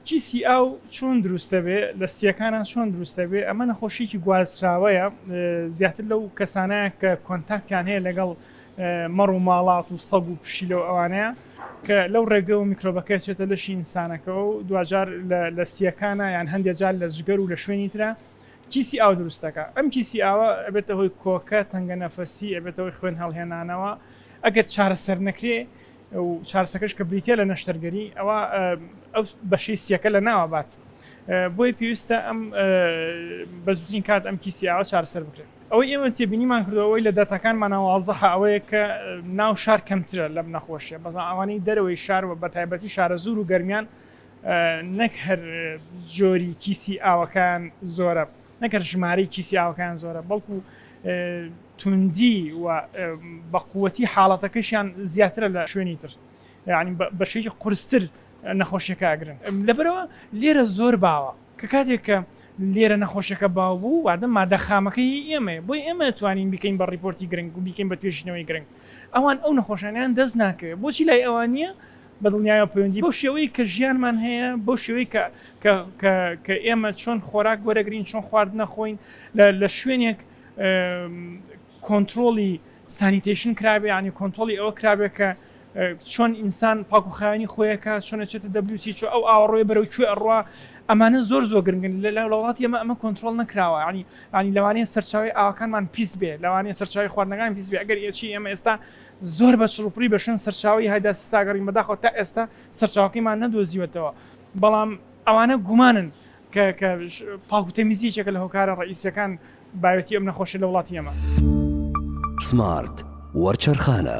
کیسی ئاو چۆن دروستەبێ لە سیەکانە چۆن دروستەبێ ئەمە نەخۆشیکی گوازراوەیە زیاتر لەو کەسانە کە کۆنتاکتیان هەیە لەگەڵ مەڕ و ماڵات و سەگ و پشی لەو ئەوانەیە کە لەو ڕێگە و میکرۆبەکە چێتە لەشی ئینسانەکەەوە و دوجار لە سیەکانە یان هەندێک جار لە جگەر و لە شوێنی ترە کیسی ئاو دروستەکە ئەم کیسی ئاوە ئەبێتە هۆی کۆکە تەنگە نەفەسی ئەبێتەوەی خوێن هەڵهێنانەوە ئەگەر چارەسەر نەکرێ و چارەسەکەش کە بریتیە لە نەشتەرگەری ئەوا ئەو بەشەی سیەکە لە ناوە بات بۆیە پێویستە ئەم بە زووترین کات ئەم کیسیاوە چارەسەر بکرێت ئەوەی ئێمە تێبینیمان کردەوەی لە داتاکانمان ناوازەح ئەوەیە کە ناو شار کەمترە لەم نەخۆشیە بەزان ئەوانەی دەرەوەی شار و بە تایبەتی شارە زور و گەرمیان نەک هەر جۆری کیسی ئاوەکان زۆرە نەک هەر ژمارەی کیسی ئاوەکەیان زۆرە بەڵکو توندی و بەقوەتی حاڵەتەکەشیان زیاترە لە شوێنی تر یعنی بەشێکی قرستر نەخۆشیەکە ئەگرن لەبەرەوە لێرە زۆر باوە کە کاتێک کە لێرە نەخۆشەکە باو بوو وادە مادە خامەکەی ئێمە بۆی ئێمە توانین بکەین بە ڕیپۆرتی گرنگ و بیکەین بە توێژینەوەی گرنگ ئەوان ئەو نەخۆشانیان دەست ناکەوێت بۆچی لای ئەوان نییە بەدڵنیایەوە پەیوەندی بەو شێوەی کە ژیانمان هەیە، بەو شێوەی کە کە کە کە ئێمە چۆن خۆراک وەرەگرین، چۆن خواردن ئەخۆین، لە لە شوێنێک کۆنترۆڵی سانیتەیشن کرابێ، یانی کۆنترۆڵی ئەوە کرابێ کە چۆن ئینسان پاکوخاوێنی خۆی ئەکا، چۆن ئەچێتە دەبلیوچی، چۆ ئەو ئاوە ڕۆێ بەرەو کوێ ئەڕوا، ئەمانە زۆر زۆر گرنگن، لە لە وڵاتی ئێمە ئەمە کۆنترۆڵ نەکراوە، یانی یانی لەوانەیە سەرچاوەی ئاوەکانمان پیس بێ، لەوانەیە سەرچاوەی خواردنەکانمان پیس بێ، ئەگەر ئێچی ئێمە ئێستا زۆر بە چڕوپڕی بە شوێن سەرچاوەی هایدا سیستا گەڕین، بەداخەوە تا ئێستا سەرچاوەکەیمان نەدۆزیوەتەوە، بەڵام ئەوانە گومانن کە کە پاک و تەمیزی یەکێکە لە هۆکارە ڕەئیسییەکان بایەتی ئەم نەخۆشیە لە وڵاتی ئێمە. سمارت وەرچەرخانە.